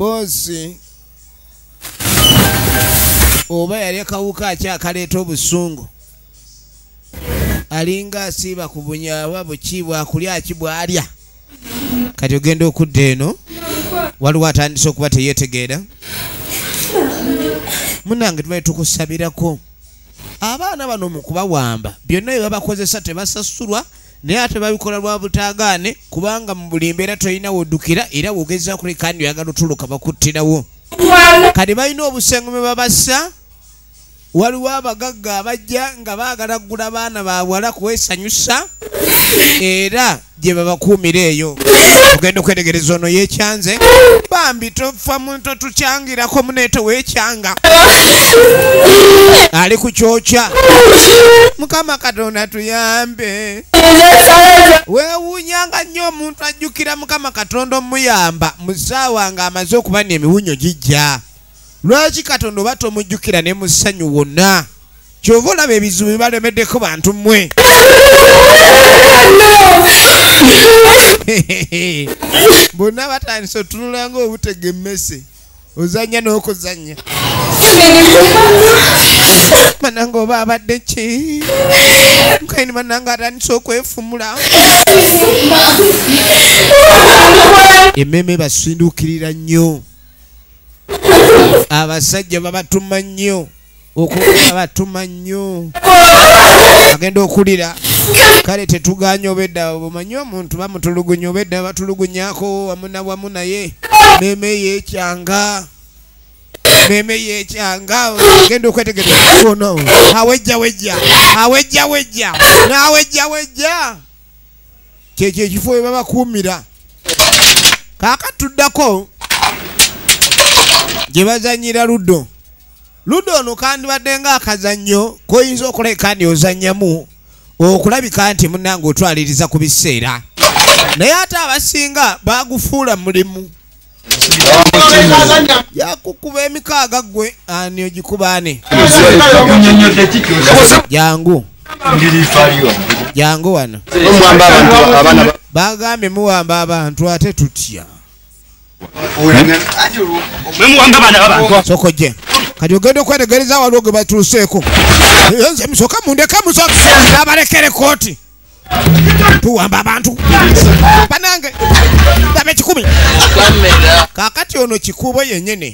boozi oba yali akawuka akyakaleeta obusungu alinga asiiba ku bunyawa buki bwakulya ki bwalya kati ogenda okudda eno waliwo atandise okuba teyetegeera munange tubaye tukusabirako abaana bano mu kubawamba byonna bye babakozesa tebasasulwa naye ate babikola lwa butaagaane kubanga mu buli mbeera tolina woddukira era wogeza kuleka ndi oyagala otuluka bakuttirawo kati balina obusengo bwe babassa waliwo abagagga abajja nga baagala kugula abaana bawala kwesanyusa era gye babakuumira eyo ogenda okwetegereza ono yekyanze bambi tofa muntu tukyangirako muneeto wekyanga ali ku kyokya mukama katonda tuyambe wewunyanga nnyo omuntu ajjukira mukama katonda omuyamba mu ssaawa nga amaze okuba ne emiwunyo gijja lwaki katonda oba tomujjukira ne mu ssanyu wonna kyova olaba ebizibu bibalemeddeko bantu mmwe bonna batandise otunulanga obutega emmese ozanya n'okuzanya mananga oba abadde ki kaini mananga atandise okwefumula ememe basindukirira nnyo abasajja babatuma nnyo okubatuma nnyo agenda okulira kale tetuganya obedda omanyi omuntu bamutulugunya obedda batulugunyako wamu na wamu naye meme yekyanga meme yekyanga genda okwetegereza ono awejja wejja awejja wejja nawejja wejja kyekyo ekifo webabakuumira kakatuddako gyebazanyira luddo luda ono kandibadde nga akazannyo koyinza okuleka ni ozannyamu okulabika nti munange otwaliriza ku biseera naye ate abasinga bagufuula mulimu yakukuba emikaaga gwe ani ogikubaane jangu jangu wano bagambye muwamba abantu ate tutya mwemuwanga baana babantu sokojje kati ogenda okwetegereza waliwo gwe batuuseeko nze musoka mundeke musoka abalekere kooti tuwamba abantu banange daba ekikumi kakati ono kikuubo yenyini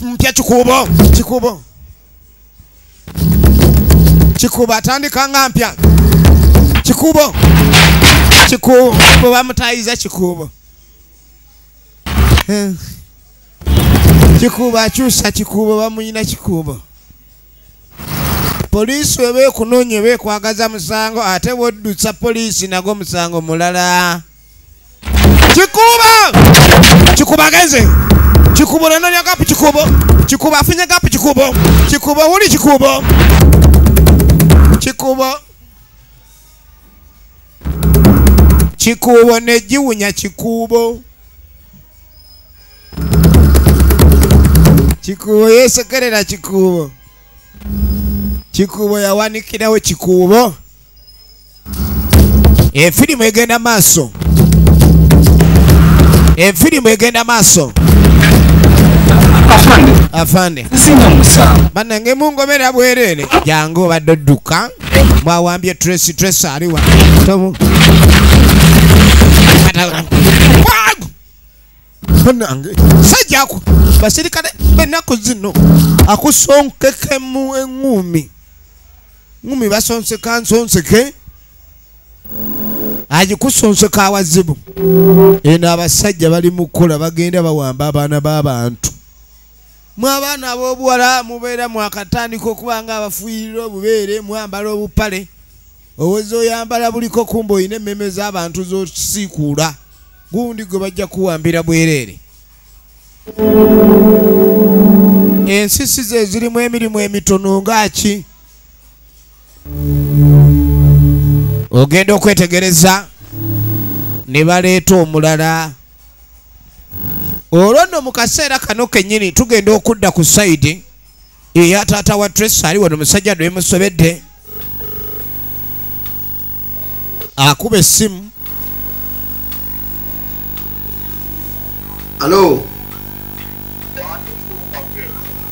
mpya kikuubo kikuubo kikuubo atandika nga mpya kikuubo kikuubo bamutayiza kikuubo eh. kikuubo akyusa kikuubo bamuyina kikuubo poliisi weba ekunoonya eba ekwagaza musango ate woddutsa poliisi nago musango mulala kikuba kikuba agenze kikuba onanonya gapu kikubo kikuba afunye gapu kikubo kikuba wuli kikubo kikubo kikubo negiwunya kikubo kikubo yesekerera kikubo kikubo yawanikirawo kikubo efirimu egenda maaso efirimu egenda maaso afande banange mungomera bwerere jangu obadde odduka mwawambye tracy tracy aliwa banange sajako basirikale benaku zino akusonkekemu eŋumi ŋumi basonseka nsonseke agikusonseka awazibu eno abasajja bali mukukola bagenda bawamba abaana b'abantu mwe abaana ab'obuwala mubeera mwakatandika okuba nga abafuuyirira obubeere mwambala obupale owoza oyambala buliko kumba olina emmeme z'abantu zosiikuula gundi gwe bajja kuwambira bwereere ensisi ze zirimu emirimu emitono ngaaki ogenda okwetegereza ne baleeta omulala olwo nno mu kaseera kano kennyini tugenda okudda ku sayidi eya taata wa tres ali wano musajja nemusobedde akuba essimu alo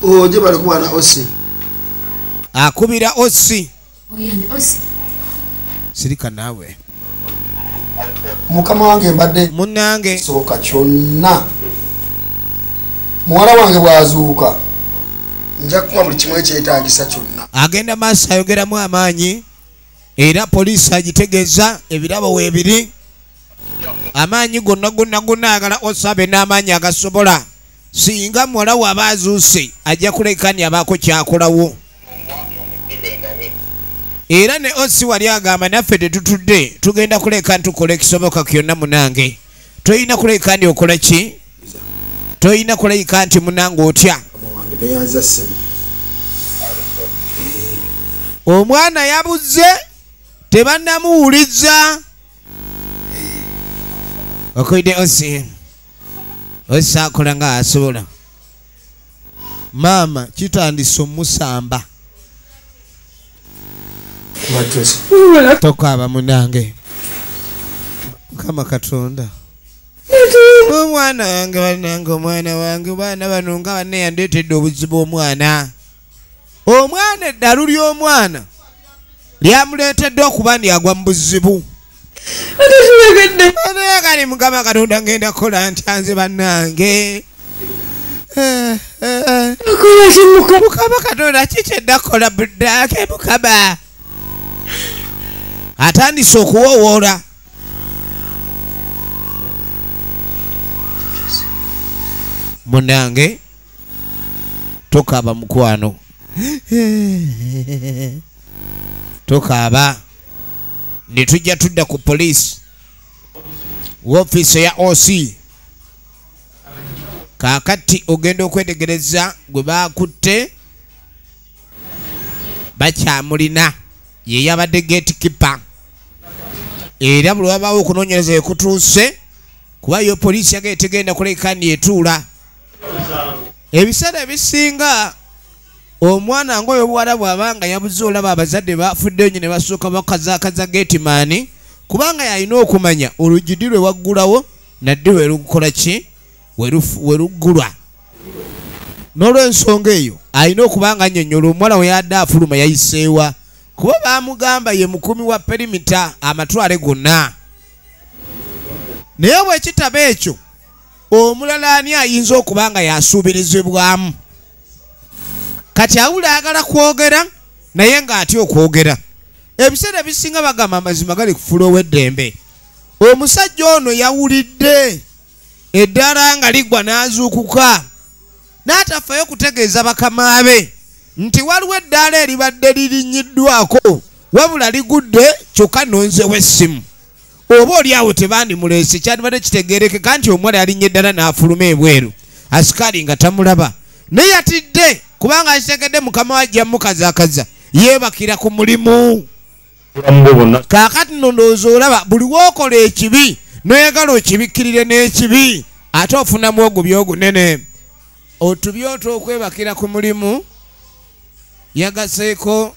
oje oh, bali kubana osi akubira osi sirika naawe mukama wange mbadde munange soboka kyonna muwala wange bwazuuka nja kukuba buli kimu ekyetagisa kyonna agenda maaso ayogeramu amaanyi era poliisi agitegeeza ebirabo weebiri amaanyi gonna gonna gonna agala osabe n'amaanyi agasobola singa muwala waaba azuuse ajja kulekani abaako kyakolawo era ne osi wali agamba naffe tetutudde tugenda kuleka ntukola ekisoboka kyonna munange tolina kuleka ndi okola ki tolina kuleka nti munange otya omwana yabuze tebanamuwuliza okoide osi osi akola nga asobola maama kitandise omusamba tokaaba munange mukama katonda omwana wange banange omwana wange baana bano nga baneyandetedde obuzibu omwana omwana eddalu ly'omwana lyamuleetedde okuba ndi agwa mu buzibu kali mukama katonda ngenda kukola ntyanze bannange mukama katonda kikyedda kukola buddaake mukama atandise okuwowoola munange tokaaba mukwano tokaaba ne tujja tudda ku poliisi wofiisi eya oc kaakati ogenda okwetegereza gwe baakutte bakyamulina yeyabadde gate kipa era buli wabaawo okunoonyereza ekutuuse kuba yo poliisi yaga etegenda kuleka ni etuula ebiseera ebisinga omwana ngaoyo obuwala bwaba nga yabuze olaba abazadde bafudde nyo ne basooka bakazakaza getimaani kubanga yalina okumanya olugidi lwe waggulawo nadde werukukola ki weruggulwa n'olwensonga eyo alina okuba nga nyonyola omuwala we yadde afuluma yayiseewa kuba bamugamba ye mukumi wa perimita amatwale gonna naye bwekitaba ekyo omulala ani ayinza okuba nga yasuubirizibwamu kati awula ayagala kwogera naye ng'atya okwogera ebiseera ebisinga bagamba amazima gali kufula ow'eddembe omusajja ono yawulidde eddala nga ligwa n'azuukuka n'atafayo kutegeeza bakama be nti waliwo eddaala eribadde lirinnyiddwako wabula ligudde kyokka nonzewo essimu oba oli awo tebandimuleese kyandibadde kitegeerekeka nti omuwala yalinnya eddala n'afuluma ebweru asikaali nga tamulaba naye yatidde kubanga akitegedde mukama wajja mukazakaza yeebakira ku mulimu kaakati no ndowooza olaba buli wookola ekibi noyagala okibikkirire n'ekibi ate ofunamu ogubi ogunene otubi otwokwebakira ku mulimu yagaseeko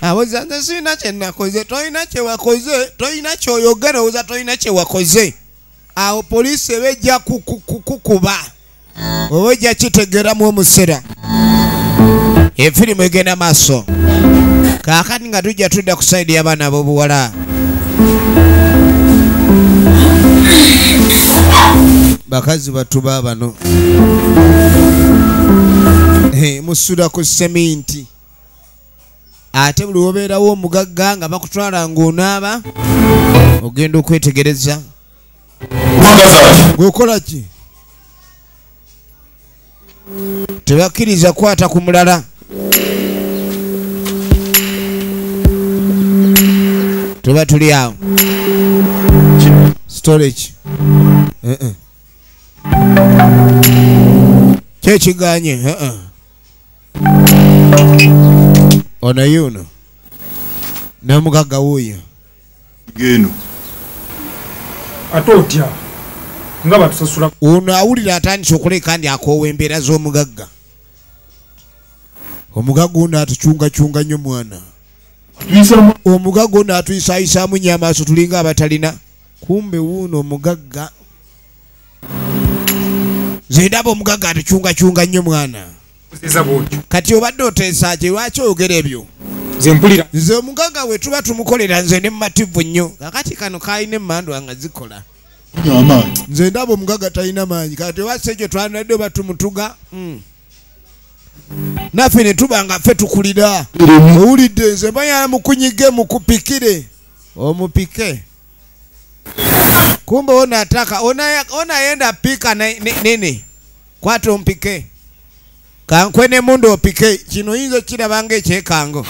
awoza nze sirina kyenakoze tolina kyewakoze tolina kyoyogera owoza tolina kyewakoze awo poliisi eba ejja kukuba oba ojja kitegeeramu omusera efirimu egenda maaso kakati nga tujja tudda ku saidi y'abaana ab'obuwala bakazi batuba bano musula ku seminti ate buli wobeerawo omugagga nga bakutwala ngaonaaba ogenda okwetegereza ngaokola ki tebakkiriza kukwata ku mulala tuba tuli awo storage eh, eh. kyekiganye eh, ono yuno nomugagga wuuyo geno ate otya nga batusasula ono awulira atandise okuleka ndi akoowa embeera z'omugagga omugagga ono atucungacunga nnyo mwana omugagga ono atuyisayisaamu nyo amaaso tulinga abatalina kumbe wuuno omugagga zendaba omugagga atucungacunga nnyo mwana kati obadde oteesaaki lwaki oyogera ebyo zempulira nze omugaga we tuba tumukolera nze ne mumativu nnyo kakati kano kalina emmandwa nga zikola nze ndaba omugaga talina maanyi kati obasa ekyo twanadde oba tumutuga hmm. naffe ne tuba nga ffe tukulira owulidde nze mbayala mukunyige mukupikire omupike kumbe onataka onayenda pika nene ne, ne, ne. kwata ompike kankwe nemundu opike kino oyinza okukiraba nga ekyekango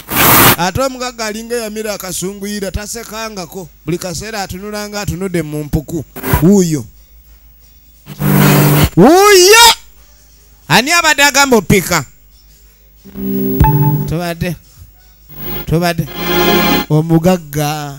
ate omugagga alinga eyamira akasunguyira tasekangako buli kaseera atunula nga atunudde mu mpuku wuuyo wuuyo ani abadde agamba opika tubadde tubadde omugagga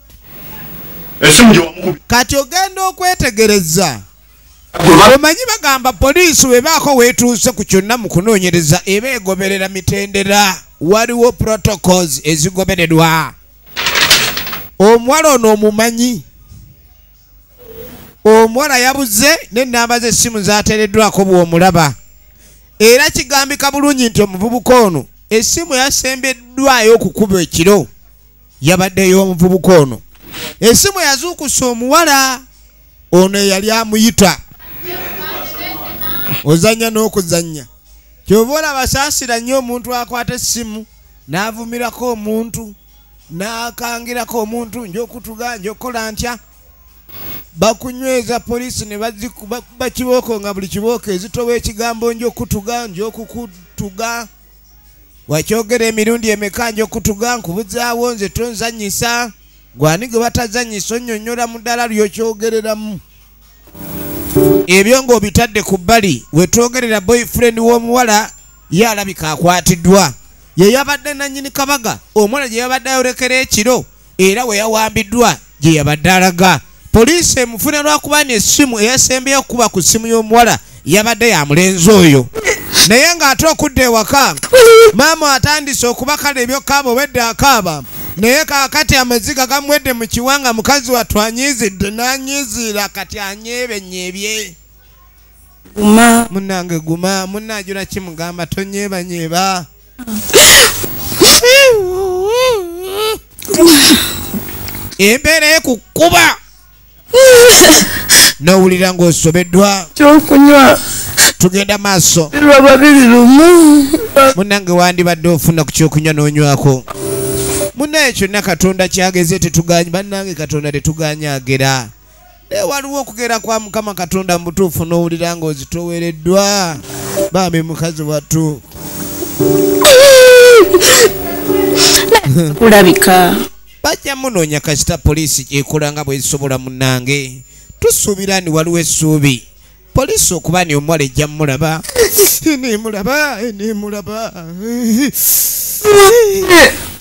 kati ogenda okwetegereza omanyi bagamba poliisi webaako wetuuse ku kyonna mu kunoonyereza eba egoberera mitendera waliwo protocols ezigobererwa omuwala ono omumanyi omuwala yabuze nenamba zesimu zatereddwako bwomulaba era kigambika bulungi nti omuvubuka ono esimu yasembeddwayo okukuba ekiro yabadde ey'omuvubuka ono esimu yazuukusa omuwala ono eyali amuyita ozannya n'okuzannya kyova olaba saasira nnyo omuntu akwata essimu n'avumirako omuntu n'akangirako omuntu njokutuga njokukola ntya bakunyweza poliisi ne bakibooko nga buli kibooko ezitowa ekigambo njokutuga njokukutuga wakyogera emirundi emeka njokutuga nkubuzaawo nze tonzanyisa gwani gwe batazanyisa onyonyola mu ddala lyokyogereramu ebyo ng'obitadde ku bbali wetwogerera boyfriend w'omuwala ye alabika akwatiddwa ye yabadde nannyini kabaga omuwala gye yabadde ayorekera ekiro era we yawambiddwa gye yabadde alaga poliisi emufuna lwakuba nesimu eyasembeyo okukuba ku ssimu y'omuwala yabadde ya mulenzi oyo naye ng'ate okudda ewaka maama atandise okubakala ebyokaaba obedde akaaba naye kakati amaziga gamwedde mu kiwanga mukazi wattu anyiizidde n'anyiiziira kati anyeebenyeebye guma munange guma munajula kimugamba tonyebanyeeba embeera ekukuba nowulira ng'osobeddwa kyokunywa tugenda maaso lwa babiri lumu munange wandibadde ofuna ku kyokunywa n'onywako munaye kyonna katonda kyageze tetuganyi bannange katonda tetuganyaagera naye waliwo okugera kwa mukama katonda mubutuufu n'owulira nga ozitowereddwa bambi mukazi wattu kulabika bajja munoonya kasita poliisi gyekola nga bwezisobola munange tusuubira ni waliwo essuubi poliisi okuba ni omuwala ejja mulaba nemulaba nemulaba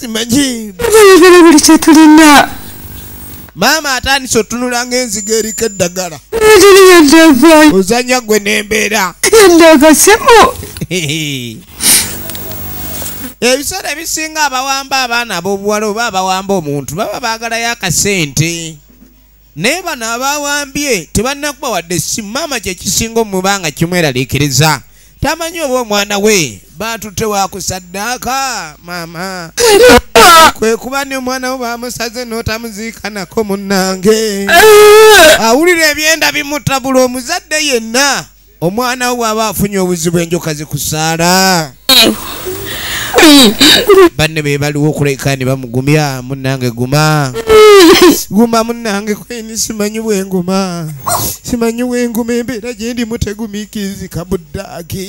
simanyi ayogera buli kyetulina maama atandise otunula ngaenziga eriko eddagala ozanya gwe nembeera endagasimu ebiseera ebisinga abawamba abaana abobuwala oba abawamba omuntu baba baagalayo akasente naye bano abawambye tebannakuba wadde essimu maama kyekisinga omuba nga kimweraliikiriza tamanyi oba omwana we batutte wakusaddaaka maama kwe kuba ni omwana wo bamusaze n'otamuziikanako munnange awulira ebyenda bimutabula omuzadde yenna omwana wo bw'aba afunye obuzibu enjoka zikusaala banne be baliwo okuleka ne bamugumya munnange guma guma munnange kweni simanyi bwenguma simanyi bwenguma embeera gye ndimu tegumiikirizika buddaaki